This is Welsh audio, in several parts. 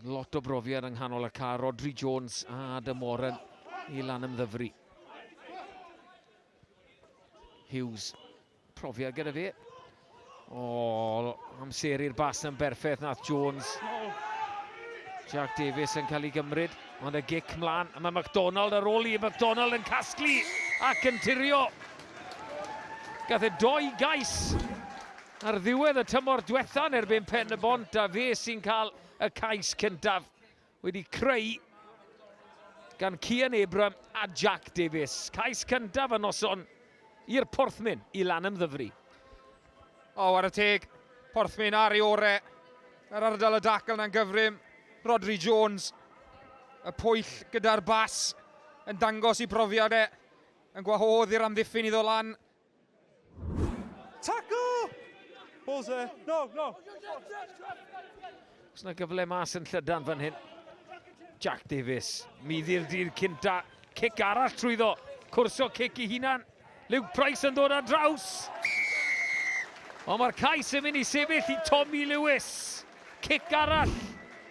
Lot o brofiad yng nghanol y car, Rodri Jones a Adam Warren i lan ymddyfru. Hughes, profiad gyda fe. O, amser i'r bas yn berffaith nath Jones. Jack Davies yn cael ei gymryd, ond y gic mlaen. A mae McDonald ar ôl i, McDonald yn casglu ac yn tirio. Gath e doi gais Ar ddiwedd y tymor diwetha yn erbyn Pen-y-bont a fe sy'n cael y cais cyntaf wedi creu gan Cian Abram a Jack Davies. Cais cyntaf y noson i'r Porthmyn i Lanymddyfri. O, ar y teg, Porthmyn ar ei ore. Yr ardal y dacl na'n gyfrym. Rodri Jones, y pwyll gyda'r bas, yn dangos i brofiad e, yn gwahodd i'r amddiffyn iddo lan Tackle! Balls there. No, no. Os na gyfle mas yn llydan fan hyn. Jack Davies, muddi'r dydd cynta, cic arall trwyddo, cwrsio cic i hunan. Luke Price yn dod ar draws. Ond mae'r cais yn mynd i sefyll i Tommy Lewis. Cic arall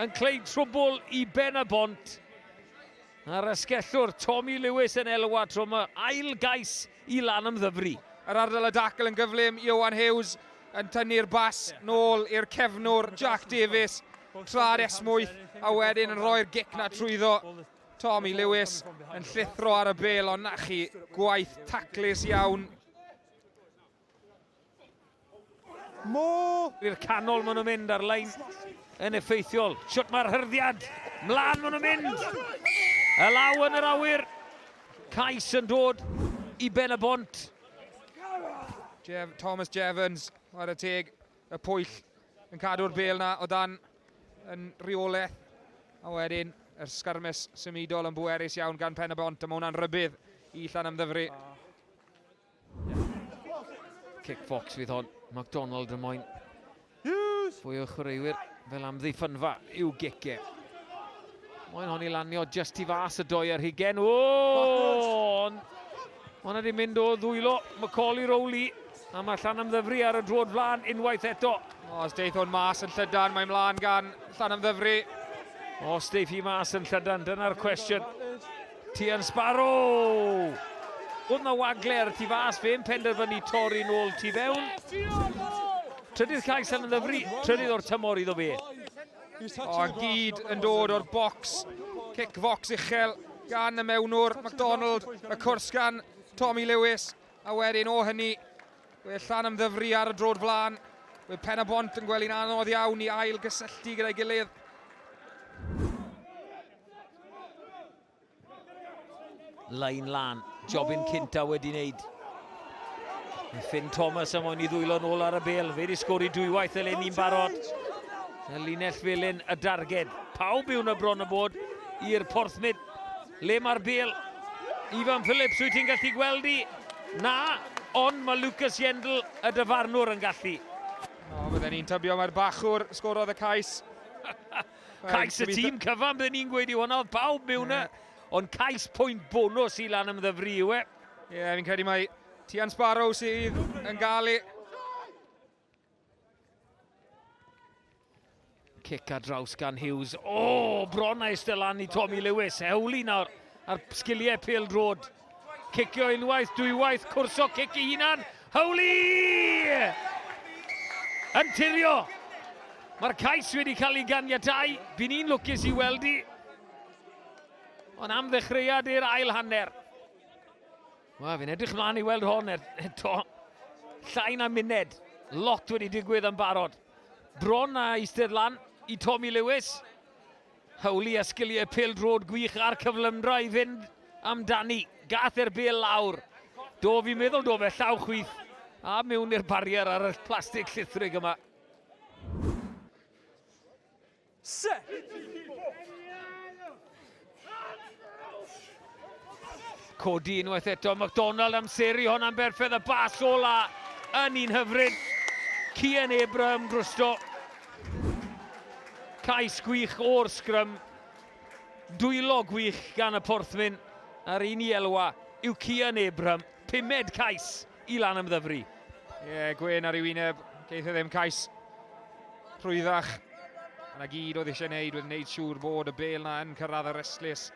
yn cleu trwbl i Ben y Bont. A'r ysgellwr Tommy Lewis yn elwa tro yma. Ail gais i Lanymddyfri. Yr ardal a dacl yn gyflym, Ioan Hughes yn tynnu'r bas nôl i'r cefnwr Jack Davies tra'r esmwyth a wedyn yn rhoi'r gic 'na trwyddo. Tommy Lewis yn llithro ar y bêl ond 'na chi, gwaith taclus iawn. Mo! I'r canol maen nhw'n mynd ar lein yn effeithiol. Siwt mae'r hyrddiad. Mlaen maen nhw'n mynd. Y law yn yr awyr. Cais yn dod i ben y bont. Jeff, Thomas Jevons, ar y teg, y pwyll yn cadw'r bel na o dan yn rheolaeth. A wedyn, yr sgyrmes symudol yn bwerus iawn gan pen y bont, a mae hwnna'n rybydd i Llan Ymddyfri. Kick box fydd hon, McDonald yn moyn fwy o chwaraewyr fel amddiffynfa i'w gege. Moyn hon i lanio just i fas y doi ar hugen. O! Mae hwnna wedi mynd o ddwylo Macaulay Rowley. A mae Llan Ymddyfri ar y drod flan unwaith eto. Os deith hwn mas yn llydan, mae mlaen gan Llan Ymddyfri. Os deith hi mas yn llydan, dyna'r cwestiwn. Tien Sparrow! Oedd na wagle ar y tu fas, fe'n penderfynu torri nôl tu fewn. Trydydd cais yn ddyfru, trydydd o'r tymor iddo fe. O, a gyd yn dod o'r bocs. Cic focs uchel gan y mewnwr, MacDonald, y cwrs gan Tommy Lewis. A wedyn o hynny, we llan am ddyfru ar y drod flan. We pen y bont yn gwely'n anodd iawn i ail gysylltu gyda'i gilydd. Lain lan, Jobyn Cynta wedi wneud. Mae Finn Thomas am o'n i ddwylo'n ôl ar y bel, fe wedi sgori dwywaith eleni'n barod. Y linell felyn y darged, pawb yw'n y bron y bod i'r porthmyd. Le mae'r bel? Ifan Phillips, wyt ti'n gallu gweld i? Na, ond mae Lucas Yendl, y dyfarnwr, yn gallu. O, bydden ni'n tybio mae'r bachwr sgorodd y cais. Cais y tîm cyfan, byddwn ni'n gweud i hwnna, oedd pawb mewn e. Ond cais pwynt bonus i lan ymddyfru yw e. Ie, yeah, fi'n credu mae Tian Sparrow sydd yn gael ei... Cic ar draws gan Hughes. O, oh, bron a eistedd lan i Tommy Lewis. Hewli nawr ar sgiliau pel drod. Cicio unwaith, dwywaith, cwrso cic i hunan. Howli! Yn tirio. Mae'r cais wedi cael ei ganiatau. By'n i'n lwcus i weld i. Ond am ddechreuad i'r ail hanner. Wel, fi'n edrych mlaen i weld hon er, eto. Llai na muned. Lot wedi digwydd yn barod. Bron a eistedd lan i Tommy Lewis. Hawliau, sgiliau pêl-droed gwych a'r cyflymdra i fynd amdani. Gath e'r bêl lawr. Do, fi'n meddwl do fe, llaw chwith. A mewn i'r barier ar y plastig llithrig yma. Se! Codi unwaith eto, McDonald amseru hon am berffedd y bas ola yn un hyfryd. Cian Abraham drosto. Cais gwych o'r sgrym. Dwylo gwych gan y porthmyn a'r un i elwa yw Cian Abraham. Pumed cais i lan ymddyfru. Ie, yeah, Gwyn ar ei wyneb, geith e ddim cais rhwyddach. Yna gyd oedd eisiau gwneud, oedd wneud siŵr bod y bel na yn cyrraedd y restlus.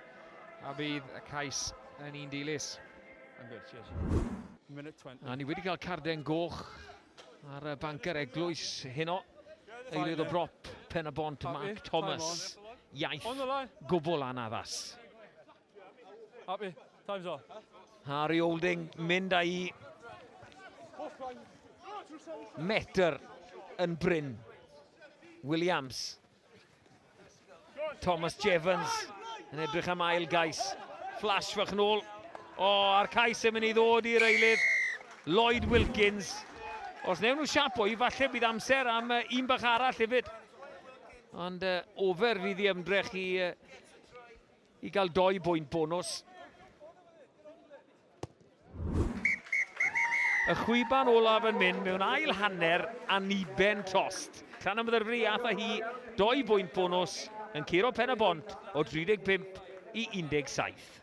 A bydd y cais yn un dilys. A ni wedi cael carden goch ar y banker eglwys heno. Eilydd o brop pen y bont Mark Thomas. Iaith gwbl anaddas. Happy, time's off. Harry Holding mynd â'i metr yn bryn. Williams Thomas Jevons yn edrych am ail gais. Flash fach yn ôl. O, oh, a'r cais yn mynd i ddod i'r eilydd. Lloyd Wilkins. Os newn nhw siapo i, falle bydd amser am uh, un bach arall hefyd. Ond uh, ofer fydd i ymdrech i uh, i gael doi bwynt bonws. Y chwiban olaf yn mynd mewn ail hanner aniben tost. Tan ymddyrfri ath a hi doi bwynt bonws yn curo pen y bont o 35 i 17.